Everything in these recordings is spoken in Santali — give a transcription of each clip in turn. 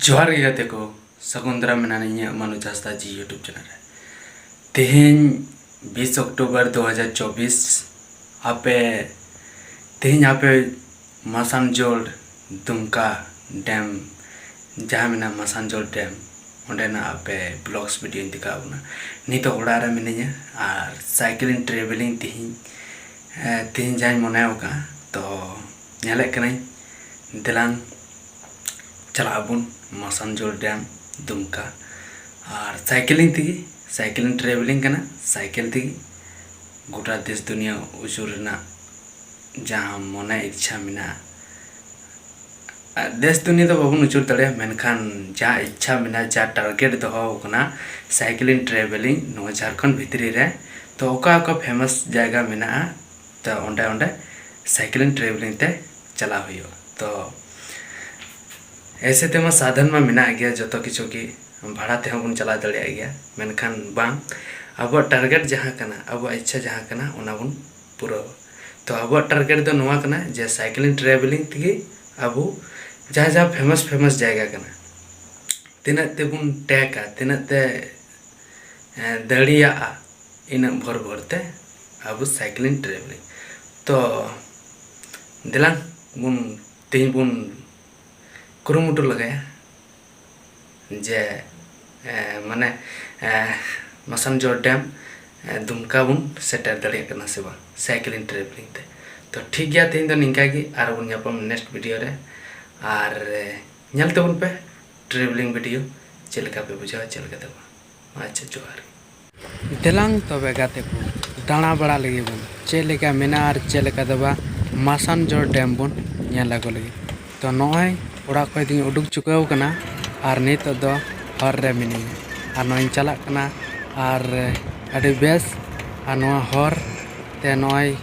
ᱡᱚᱦᱟᱨ ᱜᱮ ᱜᱟᱛᱮ ᱠᱚ ᱥᱟᱹᱜᱩᱱ ᱫᱟᱨᱟᱢ ᱢᱮᱱᱟᱜᱼᱟ ᱤᱧᱟᱹᱜ ᱢᱟᱱᱩ ᱡᱟᱥᱛᱟ ᱡᱤ ᱤᱭᱩᱴᱩᱵᱽ ᱪᱮᱱᱮᱞ ᱨᱮ ᱛᱮᱦᱮᱧ ᱵᱤᱥ ᱚᱠᱴᱳᱵᱚᱨ ᱫᱩ ᱦᱟᱡᱟᱨ ᱪᱚᱵᱽᱵᱤᱥ ᱟᱯᱮ ᱛᱮᱦᱮᱧ ᱟᱯᱮ ᱢᱟᱥᱟᱱᱡᱳᱲ ᱫᱩᱢᱠᱟ ᱰᱮᱢ ᱡᱟᱦᱟᱸ ᱢᱮᱱᱟᱜᱼᱟ ᱢᱟᱥᱟᱱᱡᱚᱲ ᱰᱮᱢ ᱚᱸᱰᱮᱱᱟᱜ ᱟᱯᱮ ᱵᱞᱚᱜᱽᱥ ᱵᱷᱤᱰᱤᱭᱳᱧ ᱫᱮᱠᱷᱟᱣ ᱟᱯᱮ ᱠᱟᱱᱟ ᱱᱤᱛᱚᱜ ᱚᱲᱟᱜ ᱨᱮ ᱢᱤᱱᱟᱹᱧᱟ ᱟᱨ ᱥᱟᱭᱠᱮᱞᱤᱝ ᱴᱨᱮᱵᱷᱮᱞᱤᱝ ᱛᱮᱦᱮᱧ ᱛᱮᱦᱮᱧ ᱡᱟᱦᱟᱸᱧ ᱢᱚᱱᱮ ᱟᱠᱟᱫᱼᱟ ᱛᱚ ᱧᱮᱞᱮᱫ ᱠᱟᱹᱱᱟᱹᱧ ᱫᱮᱞᱟᱝ ᱪᱟᱞᱟᱜ ᱟᱵᱚᱱ ᱢᱟᱥᱟᱱᱡᱚᱲ ᱰᱮᱢ ᱫᱩᱢᱠᱟ ᱟᱨ ᱥᱟᱭᱠᱮᱞᱤᱝ ᱛᱮᱜᱮ ᱥᱟᱭᱠᱮᱞᱤᱝ ᱴᱨᱮᱵᱷᱮᱞᱤᱝ ᱠᱟᱱᱟ ᱥᱟᱭᱠᱮᱞ ᱛᱮᱜᱮ ᱜᱳᱴᱟ ᱫᱮᱥ ᱫᱩᱱᱤᱭᱟᱹ ᱟᱹᱪᱩᱨ ᱨᱮᱱᱟᱜ ᱡᱟᱦᱟᱸ ᱢᱚᱱᱮ ᱤᱪᱪᱷᱟ ᱢᱮᱱᱟᱜᱼᱟ ᱫᱮᱥ ᱫᱩᱱᱤᱭᱟᱹ ᱫᱚ ᱵᱟᱵᱚᱱ ᱩᱪᱟᱹᱲ ᱫᱟᱲᱮᱭᱟᱜᱼᱟ ᱢᱮᱱᱠᱷᱟᱱ ᱡᱟ ᱤᱪᱪᱷᱟ ᱢᱮᱱᱟᱜᱼᱟ ᱡᱟ ᱴᱟᱨᱜᱮᱴ ᱫᱚᱦᱚ ᱟᱠᱟᱱᱟ ᱥᱟᱭᱠᱮᱞᱤᱝ ᱴᱨᱟᱵᱷᱮᱞᱤᱝ ᱱᱚᱣᱟ ᱡᱷᱟᱲᱠᱷᱚᱸᱰ ᱵᱷᱤᱛᱨᱤ ᱨᱮ ᱛᱚ ᱚᱠᱟ ᱚᱠᱟ ᱯᱷᱮᱢᱟᱥ ᱡᱟᱭᱜᱟ ᱢᱮᱱᱟᱜᱼᱟ ᱛᱚ ᱚᱸᱰᱮ ᱚᱸᱰᱮ ᱥᱟᱭᱠᱮᱞᱤᱝ ᱴᱨᱟᱵᱷᱮᱞᱤᱝ ᱛᱮ ᱪᱟᱞᱟᱣ ᱦᱩᱭᱩᱜᱼᱟ ᱛᱚ ᱮᱭᱥᱮ ᱛᱮᱢᱟ ᱥᱟᱫᱷᱚᱱ ᱢᱟ ᱢᱮᱱᱟᱜ ᱜᱮᱭᱟ ᱡᱚᱛᱚ ᱠᱤᱪᱷᱩ ᱜᱮ ᱵᱷᱟᱲᱟ ᱛᱮᱦᱚᱸ ᱵᱚᱱ ᱪᱟᱞᱟᱣ ᱫᱟᱲᱮᱭᱟᱜ ᱜᱮᱭᱟ ᱢᱮᱱᱠᱷᱟᱱ ᱵᱟᱝ ᱟᱵᱚᱣᱟᱜ ᱴᱟᱨᱜᱮᱴ ᱡᱟᱦᱟᱸ ᱠᱟᱱᱟ ᱟᱵᱚᱣᱟᱜ ᱤᱪᱪᱷᱟ ᱡᱟᱦᱟᱸ ᱠᱟᱱᱟ ᱚᱱᱟ ᱵᱚᱱ ᱯᱩᱨᱟᱹᱣᱟ ᱛᱚ ᱟᱵᱚᱣᱟᱜ ᱴᱟᱨᱜᱮᱴ ᱫᱚ ᱱᱚᱣᱟ ᱠᱟᱱᱟ ᱡᱮ ᱥᱟᱭᱠᱞᱤᱝ ᱴᱨᱟᱵᱷᱮᱞᱤᱝ ᱛᱮᱜᱮ ᱟᱵᱚ ᱡᱟᱦᱟᱸ ᱡᱟᱦᱟᱸ ᱯᱷᱮᱢᱟᱥ ᱯᱷᱮᱢᱟᱥ ᱡᱟᱭᱜᱟ ᱠᱟᱱᱟ ᱛᱤᱱᱟᱹᱜ ᱛᱮᱵᱚᱱ ᱴᱮᱠᱟ ᱛᱤᱱᱟᱹᱜ ᱛᱮ ᱫᱟᱲᱮᱭᱟᱜᱼᱟ ᱤᱱᱟᱹᱜ ᱵᱷᱳᱨ ᱵᱷᱳᱨ ᱛᱮ ᱟᱵᱚ ᱥᱟᱭᱠᱞᱤᱝ ᱴᱨᱟᱵᱷᱮᱞᱤᱝ ᱛᱚ ᱫᱮᱞᱟᱝ ᱵᱚᱱ ᱛᱮᱦᱮᱧ ᱵᱚᱱ ᱠᱩᱨᱩᱢᱩᱴᱩ ᱞᱮᱜᱟᱭᱟ ᱡᱮ ᱢᱟᱱᱮ ᱢᱟᱥᱟᱱᱡᱚᱲ ᱰᱮᱢ ᱫᱩᱢᱠᱟ ᱵᱚᱱ ᱥᱮᱴᱮᱨ ᱫᱟᱲᱮᱭᱟᱜ ᱠᱟᱱᱟ ᱥᱮ ᱵᱟᱝ ᱥᱟᱭᱠᱮᱞᱤᱝ ᱴᱨᱮᱵᱷᱮᱞᱤᱝ ᱛᱮ ᱛᱚ ᱴᱷᱤᱠ ᱜᱮᱭᱟ ᱛᱮᱦᱮᱧ ᱫᱚ ᱱᱤᱝᱠᱟ ᱜᱮ ᱟᱨ ᱵᱚᱱ ᱧᱟᱯᱟᱢ ᱱᱮᱠᱥᱴ ᱵᱷᱤᱰᱤᱭᱳ ᱨᱮ ᱟᱨ ᱧᱮᱞ ᱛᱟᱵᱚᱱ ᱯᱮ ᱴᱨᱮᱵᱷᱮᱞᱤᱝ ᱵᱷᱤᱰᱤᱭᱳ ᱪᱮᱫ ᱞᱮᱠᱟ ᱯᱮ ᱵᱩᱡᱷᱟᱹᱣᱟ ᱪᱮᱫ ᱞᱮᱠᱟ ᱛᱮ ᱵᱟᱝ ᱟᱪᱪᱷᱟ ᱡᱚᱦᱟᱨ ᱜᱮ᱾ ᱫᱮᱞᱟᱝ ᱛᱚᱵᱮ ᱜᱟᱛᱮ ᱠᱚ ᱫᱟᱬᱟ ᱵᱟᱲᱟ ᱞᱮᱜᱮ ᱵᱚᱱ ᱪᱮᱫ ᱞᱮᱠᱟ ᱢᱮᱱᱟᱜᱼᱟ ᱟᱨ ᱪᱮᱫ ᱞᱮᱠᱟ ᱫᱚ ᱵᱟᱝ ᱢᱟᱥᱟᱱᱡᱚᱲ ᱰᱮᱢ ᱵᱚᱱ ᱧᱮᱞ ᱟᱹᱜᱩ ᱞᱮᱜᱮ ᱛᱚ ᱱᱚᱜᱼᱚᱭ ᱚᱲᱟᱜ ᱠᱷᱚᱡ ᱫᱚᱧ ᱩᱰᱩᱠ ᱪᱩᱠᱟᱹᱣ ᱠᱟᱱᱟ ᱟᱨ ᱱᱤᱛᱚᱜ ᱫᱚ ᱦᱚᱨ ᱨᱮ ᱢᱤᱱᱟᱹᱧᱟ ᱟᱨ ᱱᱚᱜᱼᱚᱭ ᱤᱧ ᱪᱟᱞᱟᱜ ᱠᱟᱱᱟ ᱟᱨ ᱟᱹᱰᱤ ᱵᱮᱥ ᱟᱨ ᱱᱚᱣᱟ ᱦᱚᱨ ᱛᱮ ᱱᱚᱜᱼᱚᱭ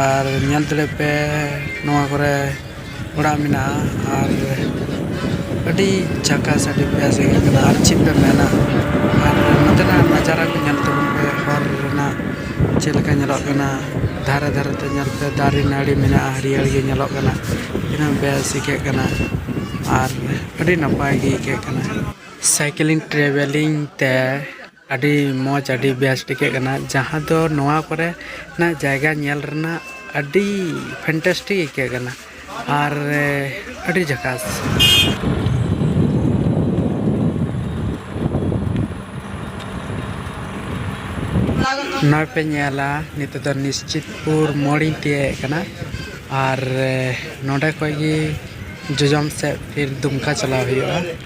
ᱟᱨ ᱧᱮᱞ ᱫᱟᱲᱮᱜ ᱯᱮ ᱱᱚᱣᱟ ᱠᱚᱨᱮ ᱚᱲᱟᱜ ᱢᱮᱱᱟᱜᱼᱟ ᱟᱨ ᱟᱹᱰᱤ ᱡᱷᱟᱠᱟᱥ ᱟᱹᱰᱤ ᱵᱮᱥ ᱜᱮ ᱟᱹᱭᱠᱟᱹᱜ ᱠᱟᱱᱟ ᱟᱨ ᱪᱮᱫ ᱯᱮ ᱢᱮᱱᱟ ᱟᱨ ᱱᱚᱛᱮᱱᱟᱜ ᱱᱟᱡᱟᱨᱟ ᱠᱚ ᱧᱮᱞ ᱛᱟᱵᱚᱱ ᱯᱮ ᱦᱚᱨ ᱨᱮᱱᱟᱜ ᱪᱮᱫ ᱞᱮᱠᱟ ᱧᱮᱞᱚᱜ ᱠᱟᱱᱟ ᱫᱷᱟᱨᱮ ᱫᱷᱟᱨᱮ ᱛᱮ ᱧᱮᱞ ᱯᱮ ᱫᱟᱨᱮ ᱱᱟᱹᱲᱤ ᱢᱮᱱᱟᱜᱼᱟ ᱦᱟᱹᱨᱭᱟᱹᱲ ᱜᱮ ᱧᱮᱞᱚᱜ ᱠᱟᱱᱟ ᱛᱤᱱᱟᱹᱜ ᱵᱮᱥ ᱟᱹᱭᱠᱟᱹᱜ ᱠᱟᱱᱟ ᱟᱨ ᱟᱹᱰᱤ ᱱᱟᱯᱟᱭ ᱜᱮ ᱟᱹᱭᱠᱟᱹᱜ ᱠᱟᱱᱟ ᱥᱟᱭᱠᱮᱞᱤᱝ ᱴᱨᱟᱵᱷᱮᱞᱤᱝ ᱛᱮ ᱟᱹᱰᱤ ᱢᱚᱡᱽ ᱟᱹᱰᱤ ᱵᱮᱥ ᱴᱷᱤᱠᱟᱹᱜ ᱠᱟᱱᱟ ᱡᱟᱦᱟᱸ ᱫᱚ ᱱᱚᱣᱟ ᱠᱚᱨᱮ ᱱᱟᱜ ᱡᱟᱭᱜᱟ ᱧᱮᱞ ᱨᱮᱱᱟᱜ ᱟᱹᱰᱤ ᱯᱷᱮᱱᱴᱮᱥᱴᱤᱠ ᱟᱹᱭᱠᱟᱹᱜ ᱠᱟᱱᱟ ᱟᱨ ᱟᱹᱰᱤ ᱡᱷᱟᱠᱟᱥ ᱱᱚᱜᱼᱚᱭ ᱯᱮ ᱧᱮᱞᱟ ᱱᱤᱛᱚᱜ ᱫᱚ ᱱᱤᱥᱪᱤᱛᱯᱩᱨ ᱢᱳᱲᱤᱧ ᱛᱤᱭᱟᱹᱜ ᱮᱫ ᱠᱟᱱᱟ ᱟᱨ ᱱᱚᱰᱮ ᱠᱷᱚᱱ ᱜᱮ ᱡᱚᱡᱚᱢ ᱥᱮᱫ ᱯᱷᱤᱨ ᱫᱩᱢᱠᱟ ᱪᱟᱞᱟᱣ ᱦᱩᱭᱩᱜᱼᱟ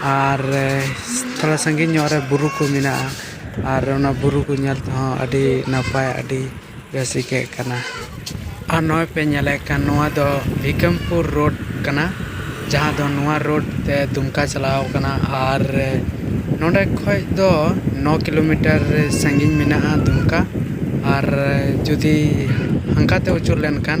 ᱟᱨ ᱛᱷᱚᱲᱟ ᱥᱟᱺᱜᱤᱧ ᱧᱚᱜ ᱨᱮ ᱵᱩᱨᱩ ᱠᱚ ᱢᱮᱱᱟᱜᱼᱟ ᱟᱨ ᱚᱱᱟ ᱵᱩᱨᱩ ᱠᱚ ᱧᱮᱞ ᱛᱮᱦᱚᱸ ᱟᱹᱰᱤ ᱱᱟᱯᱟᱭ ᱟᱹᱰᱤ ᱵᱮᱥ ᱟᱹᱭᱠᱟᱹᱜ ᱠᱟᱱᱟ ᱟᱨ ᱱᱚᱜᱼᱚᱸᱭ ᱯᱮ ᱧᱮᱞᱮᱫ ᱠᱟᱱ ᱱᱚᱣᱟ ᱫᱚ ᱵᱷᱤᱠᱟᱢᱯᱩᱨ ᱨᱳᱰ ᱠᱟᱱᱟ ᱡᱟᱦᱟᱸ ᱫᱚ ᱱᱚᱣᱟ ᱨᱳᱰ ᱛᱮ ᱫᱩᱢᱠᱟ ᱪᱟᱞᱟᱣ ᱠᱟᱱᱟ ᱟᱨ ᱱᱚᱰᱮ ᱠᱷᱚᱡ ᱫᱚ ᱱᱚ ᱠᱤᱞᱳᱢᱤᱴᱟᱨ ᱥᱟᱺᱜᱤᱧ ᱢᱮᱱᱟᱜᱼᱟ ᱫᱩᱢᱠᱟ ᱟᱨ ᱡᱩᱫᱤ ᱦᱟᱱᱠᱟ ᱛᱮ ᱟᱹᱪᱩᱨ ᱞᱮᱱᱠᱷᱟᱱ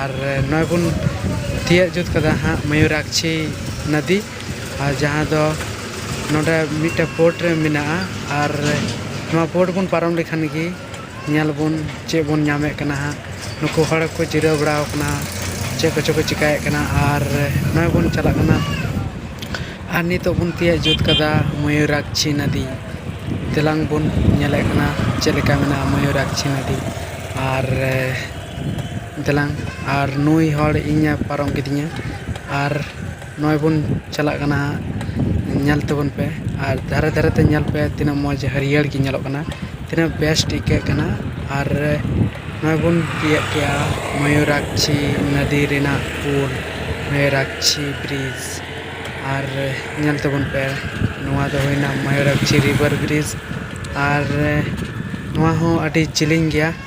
ᱟᱨ ᱱᱚᱜᱼᱚᱭ ᱵᱚᱱ ᱛᱤᱭᱟᱹᱜ ᱡᱩᱛ ᱠᱟᱫᱟ ᱦᱟᱸᱜ ᱢᱚᱭᱩᱨᱟᱠᱪᱷᱤ ᱱᱚᱫᱤ ᱟᱨ ᱡᱟᱦᱟᱸ ᱫᱚ ᱱᱚᱰᱮ ᱢᱤᱫᱴᱮᱱ ᱯᱳᱨᱴ ᱨᱮ ᱢᱮᱱᱟᱜᱼᱟ ᱟᱨ ᱱᱚᱣᱟ ᱯᱳᱨᱴ ᱵᱚᱱ ᱯᱟᱨᱚᱢ ᱞᱮᱠᱷᱟᱱ ᱜᱮ ᱧᱮᱞ ᱵᱚᱱ ᱪᱮᱫ ᱵᱚᱱ ᱧᱟᱢᱮᱫ ᱠᱟᱱᱟ ᱦᱟᱸᱜ ᱱᱩᱠᱩ ᱦᱚᱲ ᱠᱚ ᱡᱤᱨᱟᱹᱣ ᱵᱟᱲᱟ ᱟᱠᱟᱱᱟ ᱪᱮᱫ ᱠᱚᱪᱚ ᱠᱚ ᱪᱤᱠᱟᱹᱭᱮᱫ ᱠᱟᱱᱟ ᱟᱨ ᱱᱚᱜᱼᱚᱭ ᱵᱚᱱ ᱪᱟᱞᱟᱜ ᱠᱟᱱᱟ ᱟᱨ ᱱᱤᱛᱚᱜ ᱵᱚᱱ ᱛᱤᱭᱟᱹᱜ ᱡᱩᱛ ᱠᱟᱫᱟ ᱢᱚᱭᱩᱨᱟᱠᱪᱷᱤ ᱱᱚᱫᱤ ᱫᱮᱞᱟᱝ ᱵᱚᱱ ᱧᱮᱞᱮᱫ ᱠᱟᱱᱟ ᱪᱮᱫ ᱞᱮᱠᱟ ᱢᱮᱱᱟᱜᱼᱟ ᱢᱚᱭᱩᱨᱟᱠᱪᱷᱤ ᱱᱚᱫᱤ ᱟᱨ ᱫᱮᱞᱟᱝ ᱟᱨ ᱱᱩᱭ ᱦᱚᱲ ᱤᱧᱮ ᱯᱟᱨᱚᱢ ᱠᱤᱫᱤᱧᱟ ᱟᱨ ᱱᱚᱜᱼᱚᱭ ᱵᱚᱱ ᱪᱟᱞᱟᱜ ᱠᱟᱱᱟ ᱦᱟᱸᱜ ᱧᱮᱞ ᱛᱟᱵᱚᱱ ᱯᱮ ᱟᱨ ᱫᱷᱟᱨᱮ ᱫᱷᱟᱨᱮ ᱛᱮ ᱧᱮᱞ ᱯᱮ ᱛᱤᱱᱟᱹᱜ ᱢᱚᱡᱽ ᱦᱟᱹᱨᱭᱟᱹᱲ ᱜᱮ ᱧᱮᱞᱚᱜ ᱠᱟᱱᱟ ᱛᱤᱱᱟᱹᱜ ᱵᱮᱥᱴ ᱟᱹᱭᱠᱟᱹᱜ ᱠᱟᱱᱟ ᱟᱨ ᱱᱚᱜᱼᱚᱭ ᱵᱚᱱ ᱛᱤᱭᱟᱹᱜ ᱠᱮᱜᱼᱟ ᱢᱚᱭᱩᱨᱟᱠᱪᱷᱤ ᱱᱚᱫᱤ ᱨᱮᱱᱟᱜ ᱯᱩᱞ ᱢᱚᱭᱩᱨᱟᱠᱪᱷᱤ ᱵᱨᱤᱡᱽ ᱟᱨ ᱧᱮᱞ ᱛᱟᱵᱚᱱ ᱯᱮ ᱱᱚᱣᱟ ᱫᱚ ᱦᱩᱭᱱᱟ ᱢᱚᱭᱩᱨᱟᱠᱪᱷᱤ ᱨᱤᱵᱷᱟᱨ ᱵᱨᱤᱡᱽ ᱟᱨ ᱱᱚᱣᱟ ᱦᱚᱸ ᱟᱹᱰᱤ ᱡᱤᱞᱤᱧ ᱜᱮᱭᱟ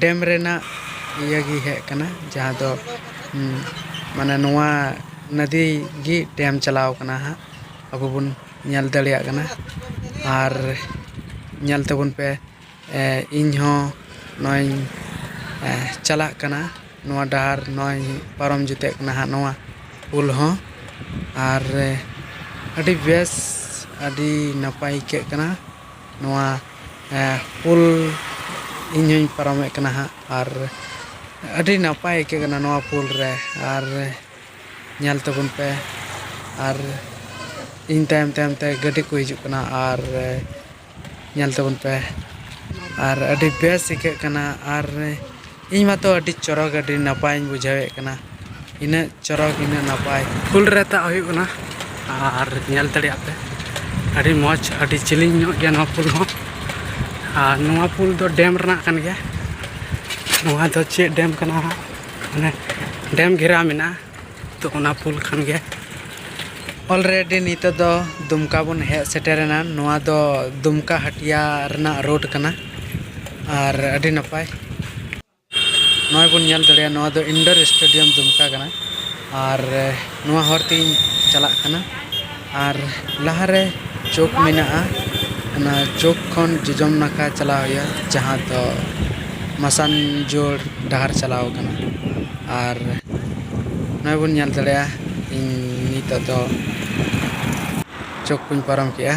ᱰᱮᱢ ᱨᱮᱱᱟᱜ ᱤᱭᱟᱹ ᱜᱮ ᱦᱮᱡ ᱠᱟᱱᱟ ᱡᱟᱦᱟᱸ ᱫᱚ ᱢᱟᱱᱮ ᱱᱚᱣᱟ ᱱᱚᱫᱤ ᱜᱮ ᱰᱮᱢ ᱪᱟᱞᱟᱣ ᱠᱟᱱᱟ ᱦᱟᱸᱜ ᱟᱵᱚ ᱵᱚᱱ ᱧᱮᱞ ᱫᱟᱲᱮᱭᱟᱜ ᱠᱟᱱᱟ ᱟᱨ ᱧᱮᱞ ᱛᱟᱵᱚᱱ ᱯᱮ ᱤᱧ ᱦᱚᱸ ᱱᱚᱜᱼᱚᱸᱭ ᱤᱧ ᱪᱟᱞᱟᱜ ᱠᱟᱱᱟ ᱱᱚᱣᱟ ᱰᱟᱦᱟᱨ ᱱᱚᱜᱼᱚᱸᱭ ᱤᱧ ᱯᱟᱨᱚᱢ ᱡᱮᱛᱮᱜ ᱠᱟᱱᱟ ᱦᱟᱸᱜ ᱱᱚᱣᱟ ᱯᱳᱞ ᱦᱚᱸ ᱟᱨ ᱟᱹᱰᱤ ᱵᱮᱥ ᱟᱹᱰᱤ ᱱᱟᱯᱟᱭ ᱟᱹᱭᱠᱟᱹᱜ ᱠᱟᱱᱟ ᱱᱚᱣᱟ ᱯᱳᱞ ᱤᱧ ᱦᱚᱧ ᱯᱟᱨᱚᱢᱮᱫ ᱠᱟᱱᱟ ᱦᱟᱸᱜ ᱟᱨ ᱟᱹᱰᱤ ᱱᱟᱯᱟᱭ ᱟᱹᱭᱠᱟᱹᱜ ᱠᱟᱱᱟ ᱱᱚᱣᱟ ᱯᱳᱞ ᱨᱮ ᱟᱨ ᱧᱮᱞ ᱛᱟᱵᱚᱱ ᱯᱮ ᱟᱨ ᱤᱧ ᱛᱟᱭᱚᱢ ᱛᱟᱭᱚᱢ ᱛᱮ ᱜᱟᱹᱰᱤ ᱠᱚ ᱦᱤᱡᱩᱜ ᱠᱟᱱᱟ ᱟᱨ ᱧᱮᱞ ᱛᱟᱵᱚᱱ ᱯᱮ ᱟᱨ ᱟᱹᱰᱤ ᱵᱮᱥ ᱟᱹᱭᱠᱟᱹᱜ ᱠᱟᱱᱟ ᱟᱨ ᱤᱧ ᱢᱟᱛᱚ ᱟᱹᱰᱤ ᱪᱚᱨᱚᱠ ᱟᱹᱰᱤ ᱱᱟᱯᱟᱭᱤᱧ ᱵᱩᱡᱷᱟᱹᱣᱮᱫ ᱠᱟᱱᱟ ᱤᱱᱟᱹᱜ ᱪᱚᱨᱚᱠ ᱤᱱᱟᱹᱜ ᱱᱟᱯᱟᱭ ᱯᱷᱩᱞ ᱨᱮ ᱛᱟᱜ ᱦᱩᱭᱩᱜ ᱠᱟᱱᱟ ᱟᱨ ᱧᱮᱞ ᱫᱟᱲᱮᱭᱟᱜ ᱯᱮ ᱟᱹᱰᱤ ᱢᱚᱡᱽ ᱟᱹᱰᱤ ᱡᱤᱞᱤᱧ ᱧᱚᱜ ᱜᱮᱭᱟ ᱱᱚᱣᱟ ᱯᱩᱞ ᱦᱚᱸ ᱟᱨ ᱱᱚᱣᱟ ᱯᱩᱞ ᱫᱚ ᱰᱮᱢ ᱨᱮᱱᱟᱜ ᱠᱟᱱ ᱜᱮᱭᱟ ᱱᱚᱣᱟ ᱫᱚ ᱪᱮᱫ ᱰᱮᱢ ᱠᱟᱱᱟ ᱦᱟᱸᱜ ᱢᱟᱱᱮ ᱰᱮᱢ ᱜᱷᱮᱨᱟᱣ ᱢᱮᱱᱟᱜᱼᱟ ᱛᱚ ᱚᱱᱟ ᱯᱩᱞ ᱠᱷᱟᱱ ᱜᱮ ᱚᱞᱨᱮᱰᱤ ᱱᱤᱛᱚᱜ ᱫᱚ ᱫᱩᱢᱠᱟ ᱵᱚᱱ ᱦᱮᱡ ᱥᱮᱴᱮᱨᱮᱱᱟ ᱱᱚᱣᱟ ᱫᱚ ᱫᱩᱢᱠᱟ ᱦᱟᱹᱴᱤᱭᱟ ᱨᱮᱱᱟᱜ ᱨᱳᱰ ᱠᱟᱱᱟ ᱟᱨ ᱟᱹᱰᱤ ᱱᱟᱯᱟᱭ ᱱᱚᱜᱼᱚᱭ ᱵᱚᱱ ᱧᱮᱞ ᱫᱟᱲᱮᱭᱟᱜᱼᱟ ᱱᱚᱣᱟ ᱫᱚ ᱤᱱᱰᱳᱨ ᱥᱴᱮᱰᱤᱭᱟᱢ ᱫᱩᱢᱠᱟ ᱠᱟᱱᱟ ᱟᱨ ᱱᱚᱣᱟ ᱦᱚᱨ ᱛᱮᱜᱮᱧ ᱪᱟᱞᱟᱜ ᱠᱟᱱᱟ ᱟᱨ ᱞᱟᱦᱟ ᱨᱮ ᱪᱚᱠ ᱢᱮᱱᱟᱜᱼᱟ ᱚᱱᱟ ᱪᱚᱠ ᱠᱷᱚᱱ ᱡᱚᱡᱚᱢ ᱱᱟᱠᱷᱟ ᱪᱟᱞᱟᱣ ᱦᱩᱭᱩᱜᱼᱟ ᱡᱟᱦᱟᱸ ᱫᱚ ᱢᱟᱥᱟᱱᱡᱳᱲ ᱰᱟᱦᱟᱨ ᱪᱟᱞᱟᱣ ᱠᱟᱱᱟ ᱟᱨ ᱱᱚᱜᱼᱚᱭ ᱵᱚᱱ ᱧᱮᱞ ᱫᱟᱲᱮᱭᱟᱜᱼᱟ ᱤᱧ ᱱᱤᱛᱚᱜ ᱫᱚ ᱪᱚᱠ ᱠᱚᱧ ᱯᱟᱨᱚᱢ ᱠᱮᱜᱼᱟ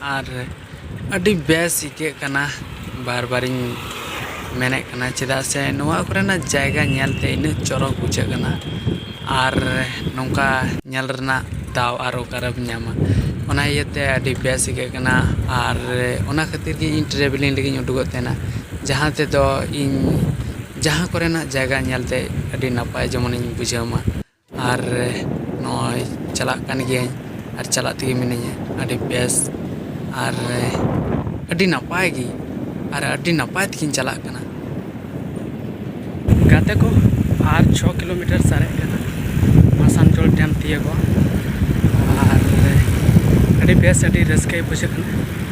ᱟᱨ ᱟᱹᱰᱤ ᱵᱮᱥ ᱟᱹᱭᱠᱟᱹᱜ ᱠᱟᱱᱟ ᱵᱟᱨ ᱵᱟᱨᱤᱧ ᱢᱮᱱᱮᱫ ᱠᱟᱱᱟ ᱪᱮᱫᱟᱜ ᱥᱮ ᱱᱚᱣᱟ ᱠᱚᱨᱮᱱᱟᱜ ᱡᱟᱭᱜᱟ ᱧᱮᱞ ᱛᱮ ᱤᱱᱟᱹᱜ ᱪᱚᱨᱚᱠ ᱵᱩᱡᱷᱟᱹᱜ ᱠᱟᱱᱟ ᱟᱨ ᱱᱚᱝᱠᱟ ᱧᱮᱞ ᱨᱮᱱᱟᱜ ᱫᱟᱣ ᱟᱨ ᱚᱠᱟᱨᱮᱢ ᱧᱟᱢᱟ ᱚᱱᱟ ᱤᱭᱟᱹᱛᱮ ᱟᱹᱰᱤ ᱵᱮᱥ ᱟᱹᱭᱠᱟᱹᱜ ᱠᱟᱱᱟ ᱟᱨ ᱚᱱᱟ ᱠᱷᱟᱹᱛᱤᱨ ᱜᱮ ᱤᱧ ᱴᱨᱟᱵᱷᱮᱞᱤᱝ ᱞᱟᱹᱜᱤᱫ ᱤᱧ ᱩᱰᱩᱠᱚᱜ ᱛᱟᱦᱮᱱᱟ ᱡᱟᱦᱟᱸ ᱛᱮᱫᱚ ᱤᱧ ᱡᱟᱦᱟᱸ ᱠᱚᱨᱮᱱᱟᱜ ᱡᱟᱭᱜᱟ ᱧᱮᱞ ᱛᱮ ᱟᱹᱰᱤ ᱱᱟᱯᱟᱭ ᱡᱮᱢᱚᱱᱤᱧ ᱵᱩᱡᱷᱟᱹᱣ ᱢᱟ ᱟᱨ ᱱᱚᱜᱼᱚᱸᱭ ᱪᱟᱞᱟᱜ ᱠᱟᱱ ᱜᱤᱭᱟᱹᱧ ᱟᱨ ᱪᱟᱞᱟᱜ ᱛᱮᱜᱮ ᱢᱤᱱᱟᱹᱧᱟ ᱟᱹᱰᱤ ᱵᱮᱥ ᱟᱨ ᱟᱹᱰᱤ ᱱᱟᱯᱟᱭ ᱜᱮ ᱟᱨ ᱟᱹᱰᱤ ᱱᱟᱯᱟᱭ ᱛᱮᱜᱮᱧ ᱪᱟᱞᱟᱜ ᱠᱟᱱᱟ ᱜᱟᱛᱮ ᱠᱚ ᱟᱨ ᱪᱷᱚ ᱠᱤᱞᱳᱢᱤᱴᱟᱨ ᱥᱟᱨᱮᱡ ᱠᱟᱱᱟ ᱟᱥᱟᱱᱥᱳᱞ ᱰᱮᱢ ᱛᱤᱭᱟᱹᱜᱚᱜᱼᱟ ᱟᱨ ᱟᱹᱰᱤ ᱵᱮᱥ ᱟᱹᱰᱤ ᱨᱟᱹᱥᱠᱟᱹ ᱵᱩᱡᱷᱟᱹᱜ ᱠᱟᱱᱟ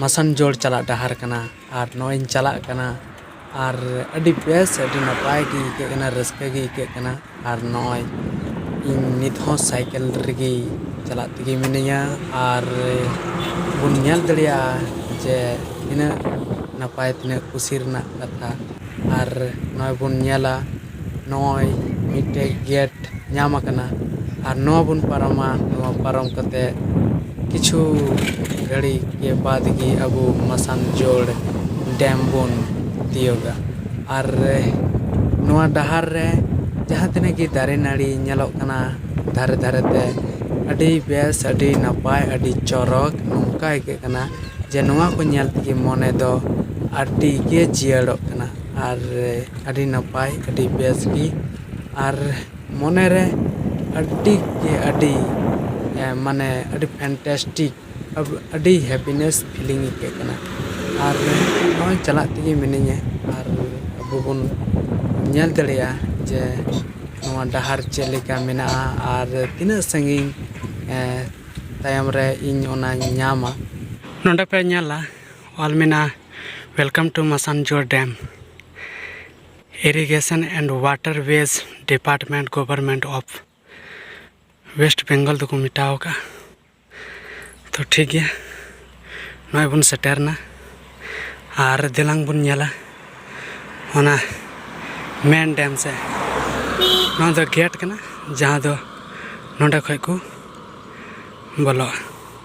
ᱢᱟᱥᱟᱱᱡᱳᱲ ᱪᱟᱞᱟᱜ ᱰᱟᱦᱟᱨ ᱠᱟᱱᱟ ᱟᱨ ᱱᱚᱜᱼᱚᱭ ᱤᱧ ᱪᱟᱞᱟᱜ ᱠᱟᱱᱟ ᱟᱨ ᱟᱹᱰᱤ ᱵᱮᱥ ᱟᱹᱰᱤ ᱱᱟᱯᱟᱭ ᱜᱮ ᱟᱹᱭᱠᱟᱹᱜ ᱠᱟᱱᱟ ᱨᱟᱹᱥᱠᱟᱹ ᱜᱮ ᱟᱹᱭᱠᱟᱹᱜ ᱠᱟᱱᱟ ᱟᱨ ᱱᱚᱜᱼᱚᱭ ᱤᱧ ᱱᱤᱛ ᱦᱚᱸ ᱥᱟᱭᱠᱮᱞ ᱨᱮᱜᱮ ᱪᱟᱞᱟᱜ ᱛᱮᱜᱮ ᱢᱤᱱᱟᱹᱧᱟ ᱟᱨ ᱵᱚᱱ ᱧᱮᱞ ᱫᱟᱲᱮᱭᱟᱜᱼᱟ ᱡᱮ ᱛᱤᱱᱟᱹᱜ ᱱᱟᱯᱟᱭ ᱛᱤᱱᱟᱹᱜ ᱠᱩᱥᱤ ᱨᱮᱱᱟᱜ ᱠᱟᱛᱷᱟ ᱟᱨ ᱱᱚᱜᱼᱚᱭ ᱵᱚᱱ ᱧᱮᱞᱟ ᱱᱚᱜᱼᱚᱭ ᱢᱤᱫᱴᱮᱡ ᱜᱮᱴ ᱧᱟᱢ ᱟᱠᱟᱱᱟ ᱟᱨ ᱱᱚᱣᱟ ᱵᱚᱱ ᱯᱟᱨᱚᱢᱟ ᱱᱚᱣᱟ ᱯᱟᱨᱚᱢ ᱠᱟᱛᱮ ᱠᱤᱪᱷᱩ ᱜᱷᱟᱹᱲᱤ ᱠᱮ ᱵᱟᱫᱽ ᱜᱮ ᱟᱵᱚ ᱢᱟᱥᱟᱱᱡᱳᱲ ᱰᱮᱢ ᱵᱚᱱ ᱛᱤᱭᱟᱹᱜᱟ ᱟᱨ ᱱᱚᱣᱟ ᱰᱟᱦᱟᱨ ᱨᱮ ᱡᱟᱦᱟᱸ ᱛᱤᱱᱟᱹᱜ ᱜᱮ ᱫᱟᱨᱮ ᱱᱟᱹᱲᱤ ᱧᱮᱞᱚᱜ ᱠᱟᱱᱟ ᱫᱷᱟᱨᱮ ᱫᱷᱟᱨᱮ ᱛᱮ ᱟᱹᱰᱤ ᱵᱮᱥ ᱟᱹᱰᱤ ᱱᱟᱯᱟᱭ ᱟᱹᱰᱤ ᱪᱚᱨᱚᱠ ᱱᱚᱝᱠᱟ ᱟᱹᱭᱠᱟᱹᱜ ᱠᱟᱱᱟ ᱡᱮ ᱱᱚᱣᱟ ᱠᱚ ᱧᱮᱞ ᱛᱮᱜᱮ ᱢᱚᱱᱮ ᱫᱚ ᱟᱹᱰᱤ ᱜᱮ ᱡᱤᱭᱟᱹᱲᱚᱜ ᱠᱟᱱᱟ ᱟᱨ ᱟᱹᱰᱤ ᱱᱟᱯᱟᱭ ᱟᱹᱰᱤ ᱵᱮᱥ ᱜᱮ ᱟᱨ ᱢᱚᱱᱮ ᱨᱮ ᱟᱹᱰᱤ ᱜᱮ ᱟᱹᱰᱤ ᱢᱟᱱᱮ ᱟᱹᱰᱤ ᱯᱷᱮᱱᱴᱮᱥᱴᱤᱠ ᱟᱹᱰᱤ ᱦᱮᱯᱤᱱᱮᱥ ᱯᱷᱤᱞᱤᱝ ᱟᱹᱭᱠᱟᱹᱜ ᱠᱟᱱᱟ ᱟᱨ ᱱᱚᱜᱼᱚᱭ ᱪᱟᱞᱟᱜ ᱛᱮᱜᱮ ᱢᱤᱱᱟᱹᱧᱟ ᱟᱨ ᱟᱵᱚ ᱵᱚᱱ ᱧᱮᱞ ᱫᱟᱲᱮᱭᱟᱜᱼᱟ ᱡᱮ ᱱᱚᱣᱟ ᱰᱟᱦᱟᱨ ᱪᱮᱫ ᱞᱮᱠᱟ ᱢᱮᱱᱟᱜᱼᱟ ᱟᱨ ᱛᱤᱱᱟᱹᱜ ᱥᱟᱺᱜᱤᱧ ᱛᱟᱭᱚᱢ ᱨᱮ ᱤᱧ ᱚᱱᱟᱧ ᱧᱟᱢᱟ ᱱᱚᱰᱮ ᱯᱮ ᱧᱮᱞᱟ ᱚᱞ ᱢᱮᱱᱟᱜᱼᱟ welcome to Massanjore dam irrigation and waterways department government of West Bengal ᱫᱚᱠᱚ ᱢᱮᱴᱟᱣ ᱠᱟᱜᱼᱟ ᱛᱚ ᱴᱷᱤᱠ ᱜᱮᱭᱟ ᱱᱚᱜᱼᱚᱭ ᱵᱚᱱ ᱥᱮᱴᱮᱨᱱᱟ ᱟᱨ ᱫᱮᱞᱟᱝ ᱵᱚᱱ ᱧᱮᱞᱟ ᱚᱱᱟ ᱢᱮᱱ ᱰᱮᱢ ᱥᱮ ᱱᱚᱣᱟ ᱫᱚ ᱜᱮᱴ ᱠᱟᱱᱟ ᱡᱟᱦᱟᱸ ᱫᱚ ᱱᱚᱸᱰᱮ ᱠᱷᱚᱡ ᱠᱚ ᱵᱚᱞᱚᱜᱼᱟ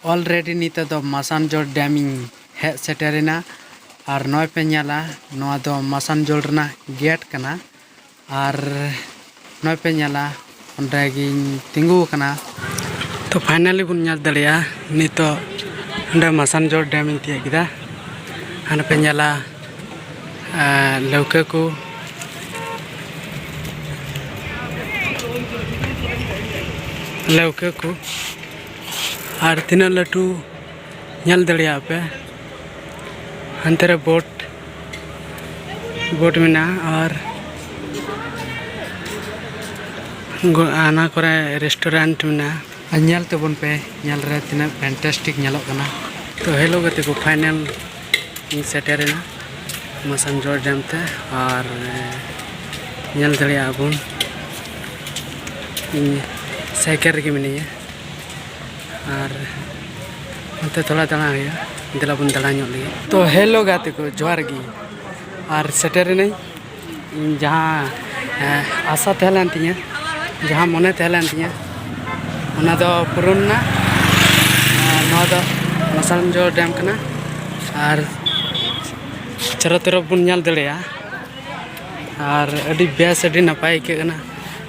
ᱚᱞᱨᱮᱰᱤ ᱱᱤᱛᱚᱜ ᱫᱚ ᱢᱟᱥᱟᱱᱡᱳᱲ ᱰᱮᱢ ᱤᱧ ᱦᱮᱡ ᱥᱮᱴᱮᱨ ᱮᱱᱟ ᱟᱨ ᱱᱚᱜᱼᱚᱭ ᱯᱮ ᱧᱮᱞᱟ ᱱᱚᱣᱟ ᱫᱚ ᱢᱟᱥᱟᱱᱡᱳᱲ ᱨᱮᱱᱟᱜ ᱜᱮᱴ ᱠᱟᱱᱟ ᱟᱨ ᱱᱚᱜᱼᱚᱭ ᱯᱮ ᱧᱮᱞᱟ ᱚᱸᱰᱮ ᱜᱤᱧ ᱛᱤᱸᱜᱩ ᱟᱠᱟᱱᱟ ᱛᱚ ᱯᱷᱟᱭᱱᱟᱞᱤ ᱵᱚᱱ ᱧᱮᱞ ᱫᱟᱲᱮᱭᱟᱜᱼᱟ ᱱᱤᱛᱚᱜ ᱚᱸᱰᱮ ᱢᱟᱥᱟᱱᱡᱳᱲ ᱰᱮᱢ ᱤᱧ ᱛᱤᱭᱳᱜ ᱠᱮᱫᱟ ᱟᱨ ᱯᱮ ᱧᱮᱞᱟ ᱞᱟᱹᱣᱠᱟᱹ ᱠᱚ ᱞᱟᱹᱣᱠᱟᱹ ᱠᱚ ᱟᱨ ᱛᱤᱱᱟᱹᱜ ᱞᱟᱹᱴᱩ ᱧᱮᱞ ᱫᱟᱲᱮᱭᱟᱜ ᱯᱮ ᱦᱟᱱᱛᱮ ᱨᱮ ᱵᱳᱴ ᱵᱳᱴ ᱢᱮᱱᱟᱜᱼᱟ ᱟᱨ ᱟᱱᱟ ᱠᱚᱨᱮ ᱨᱮᱥᱴᱩᱨᱮᱱᱴ ᱢᱮᱱᱟᱜᱼᱟ ᱟᱨ ᱧᱮᱞ ᱛᱟᱵᱚᱱ ᱯᱮ ᱧᱮᱞ ᱨᱮ ᱛᱤᱱᱟᱹᱜ ᱯᱷᱮᱱᱴᱟᱥᱴᱤᱠ ᱧᱮᱞᱚᱜ ᱠᱟᱱᱟ ᱛᱚ ᱦᱮᱞᱳ ᱜᱟᱛᱮ ᱠᱚ ᱯᱷᱟᱭᱱᱮᱞ ᱤᱧ ᱥᱮᱴᱮᱨᱮᱱᱟ ᱢᱟᱥᱟᱱᱡᱚᱲ ᱰᱮᱢ ᱛᱮ ᱟᱨ ᱧᱮᱞ ᱫᱟᱲᱮᱭᱟᱜᱼᱟ ᱵᱚᱱ ᱤᱧ ᱥᱟᱭᱠᱮᱞ ᱨᱮᱜᱮ ᱢᱤᱱᱟᱹᱧᱟ ᱟᱨ ᱚᱱᱛᱮ ᱛᱷᱚᱲᱟ ᱫᱟᱬᱟ ᱦᱩᱭᱩᱜᱼᱟ ᱫᱮᱞᱟ ᱵᱚᱱ ᱫᱟᱬᱟ ᱧᱚᱜ ᱞᱮᱜᱮ ᱛᱚ ᱦᱮᱞᱳ ᱜᱟᱛᱮ ᱠᱚ ᱡᱚᱦᱟᱨ ᱜᱮ ᱟᱨ ᱥᱮᱴᱮᱨᱮᱱᱟᱹᱧ ᱤᱧ ᱡᱟᱦᱟᱸ ᱟᱥᱟ ᱛᱟᱦᱮᱸ ᱞᱮᱱ ᱛᱤᱧᱟᱹ ᱡᱟᱦᱟᱸ ᱢᱚᱱᱮ ᱛᱟᱦᱮᱸ ᱞᱮᱱ ᱛᱤᱧᱟᱹ ᱚᱱᱟ ᱫᱚ ᱯᱩᱨᱚᱱ ᱮᱱᱟ ᱱᱚᱣᱟ ᱫᱚ ᱢᱟᱥᱟᱱᱡᱚ ᱰᱮᱢ ᱠᱟᱱᱟ ᱟᱨ ᱪᱟᱨᱚ ᱛᱚᱨᱚᱯ ᱵᱚᱱ ᱧᱮᱞ ᱫᱟᱲᱮᱭᱟᱜᱼᱟ ᱟᱨ ᱟᱹᱰᱤ ᱵᱮᱥ ᱟᱹᱰᱤ ᱱᱟᱯᱟᱭ ᱟᱹᱭᱠᱟᱹᱜ ᱠᱟᱱᱟ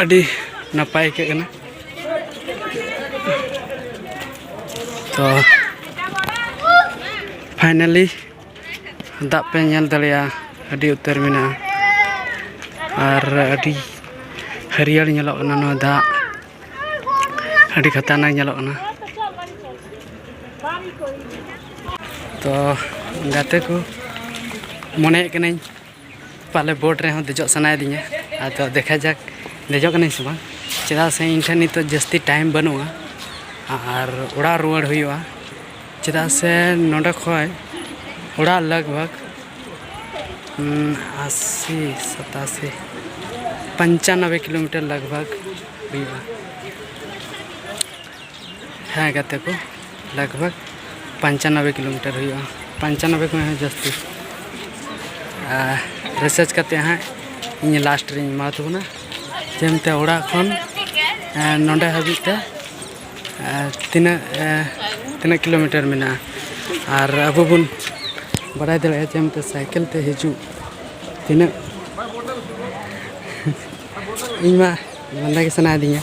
ᱟᱹᱰᱤ ᱱᱟᱯᱟᱭ ᱟᱹᱭᱠᱟᱹᱜ ᱠᱟᱱᱟ ᱛᱚ ᱯᱷᱟᱭᱱᱟᱞᱤ ᱫᱟᱜ ᱯᱮ ᱧᱮᱞ ᱫᱟᱲᱮᱭᱟᱜᱼᱟ ᱟᱹᱰᱤ ᱩᱛᱟᱹᱨ ᱢᱮᱱᱟᱜᱼᱟ ᱟᱨ ᱟᱹᱰᱤ ᱦᱟᱹᱨᱭᱟᱹᱲ ᱧᱮᱞᱚᱜ ᱠᱟᱱᱟ ᱱᱚᱣᱟ ᱫᱟᱜ ᱟᱹᱰᱤ ᱠᱷᱟᱛᱟᱨᱱᱟᱠ ᱧᱮᱞᱚᱜ ᱠᱟᱱᱟ ᱛᱚ ᱜᱟᱛᱮ ᱠᱚ ᱢᱚᱱᱮᱭᱮᱫ ᱠᱟᱹᱱᱟᱹᱧ ᱯᱟᱞᱮ ᱵᱳᱴ ᱨᱮᱦᱚᱸ ᱫᱮᱡᱚᱜ ᱥᱟᱱᱟᱭᱮᱫᱤᱧᱟ ᱟᱫᱚ ᱫᱮᱠᱷᱟ ᱡᱟᱠ ᱫᱮᱡᱚᱜ ᱠᱟᱹᱱᱟᱹᱧ ᱥᱮ ᱵᱟᱝ ᱪᱮᱫᱟᱜ ᱥᱮ ᱤᱧ ᱴᱷᱮᱱ ᱱᱤᱛᱚᱜ ᱡᱟᱹᱥᱛᱤ ᱴᱟᱭᱤᱢ ᱵᱟᱹᱱᱩᱜᱼᱟ ᱟᱨ ᱚᱲᱟᱜ ᱨᱩᱣᱟᱹᱲ ᱦᱩᱭᱩᱜᱼᱟ ᱪᱮᱫᱟᱜ ᱥᱮ ᱱᱚᱸᱰᱮ ᱠᱷᱚᱱ ᱚᱲᱟᱜ ᱞᱟᱜᱽ ᱵᱷᱟᱜᱽ ᱟᱥᱤ ᱥᱟᱛᱟᱥᱤ ᱯᱚᱧᱪᱟᱱᱚᱵᱵᱳᱭ ᱠᱤᱞᱳᱢᱤᱴᱟᱨ ᱞᱟᱜᱽ ᱵᱷᱟᱜᱽ ᱦᱩᱭᱩᱜᱼᱟ ᱦᱮᱸ ᱜᱟᱛᱮ ᱠᱚ ᱞᱟᱜᱽ ᱵᱷᱟᱜᱽ ᱯᱚᱧᱪᱟᱱᱚᱵᱵᱳᱭ ᱠᱤᱞᱳᱢᱤᱴᱟᱨ ᱦᱩᱭᱩᱜᱼᱟ ᱯᱚᱧᱪᱟᱱᱚᱵᱵᱳᱭ ᱠᱷᱚᱱ ᱦᱚᱸ ᱡᱟᱹᱥᱛᱤ ᱟᱨ ᱨᱤᱥᱟᱨᱪ ᱠᱟᱛᱮ ᱦᱟᱸᱜ ᱤᱧ ᱞᱟᱥᱴ ᱨᱤᱧ ᱮᱢᱟ ᱛᱟᱵᱚᱱᱟ ᱡᱮᱢᱛᱮ ᱚᱲᱟᱜ ᱠᱷᱚᱱ ᱱᱚᱰᱮ ᱦᱟᱹᱵᱤᱡ ᱛᱮ ᱛᱤᱱᱟᱹᱜ ᱛᱤᱱᱟᱹᱜ ᱠᱤᱞᱳᱢᱤᱴᱟᱨ ᱢᱮᱱᱟᱜᱼᱟ ᱟᱨ ᱟᱵᱚ ᱵᱚᱱ ᱵᱟᱲᱟᱭ ᱫᱟᱲᱮᱭᱟᱜᱼᱟ ᱡᱮᱢᱛᱮ ᱥᱟᱭᱠᱮᱞ ᱛᱮ ᱦᱤᱡᱩᱜ ᱛᱤᱱᱟᱹᱜ ᱤᱧ ᱢᱟ ᱞᱟᱸᱫᱟ ᱜᱮ ᱥᱟᱱᱟᱭᱮᱫᱤᱧᱟ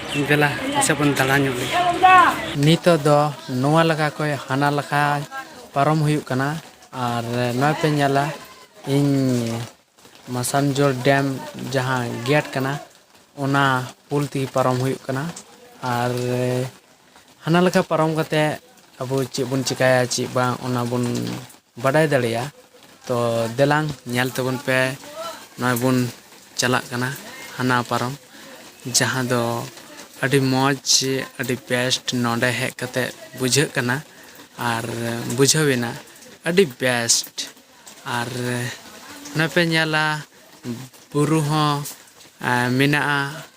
ᱫᱮᱞᱟ ᱱᱟᱥᱮ ᱵᱚᱱ ᱫᱟᱬᱟ ᱧᱚᱜ ᱞᱮᱜᱮ ᱱᱤᱛᱚᱜ ᱫᱚ ᱱᱚᱣᱟ ᱞᱟᱠᱟ ᱠᱷᱚᱱ ᱦᱟᱱᱟ ᱞᱟᱠᱟ ᱯᱟᱨᱚᱢ ᱦᱩᱭᱩᱜ ᱠᱟᱱᱟ ᱟᱨ ᱱᱚᱣᱟ ᱯᱮ ᱧᱮᱞᱟ ᱤᱧ ᱢᱟᱥᱟᱱᱡᱳᱲ ᱰᱮᱢ ᱡᱟᱦᱟᱸ ᱜᱮᱴ ᱠᱟᱱᱟ ᱚᱱᱟ ᱯᱩᱞ ᱛᱮᱜᱮ ᱯᱟᱨᱚᱢ ᱦᱩᱭᱩᱜ ᱠᱟᱱᱟ ᱟᱨ ᱦᱟᱱᱟ ᱞᱮᱠᱟ ᱯᱟᱨᱚᱢ ᱠᱟᱛᱮᱫ ᱟᱵᱚ ᱪᱮᱫ ᱵᱚᱱ ᱪᱤᱠᱟᱹᱭᱟ ᱪᱮᱫ ᱵᱟᱝ ᱚᱱᱟ ᱵᱚᱱ ᱵᱟᱰᱟᱭ ᱫᱟᱲᱮᱭᱟᱜᱼᱟ ᱛᱚ ᱫᱮᱞᱟᱝ ᱧᱮᱞ ᱛᱟᱵᱚᱱ ᱯᱮ ᱱᱚᱜᱼᱚᱭ ᱵᱚᱱ ᱪᱟᱞᱟᱜ ᱠᱟᱱᱟ ᱦᱟᱱᱟ ᱯᱟᱨᱚᱢ ᱡᱟᱦᱟᱸ ᱫᱚ ᱟᱹᱰᱤ ᱢᱚᱡᱽ ᱟᱹᱰᱤ ᱵᱮᱥᱴ ᱱᱚᱰᱮ ᱦᱮᱡ ᱠᱟᱛᱮ ᱵᱩᱡᱷᱟᱹᱜ ᱠᱟᱱᱟ ᱟᱨ ᱵᱩᱡᱷᱟᱹᱣ ᱮᱱᱟ ᱟᱹᱰᱤ ᱵᱮᱥᱴ ᱟᱨ ᱱᱚᱜᱼᱚᱭ ᱯᱮ ᱧᱮᱞᱟ ᱵᱩᱨᱩ ᱦᱚᱸ ᱢᱮᱱᱟᱜᱼᱟ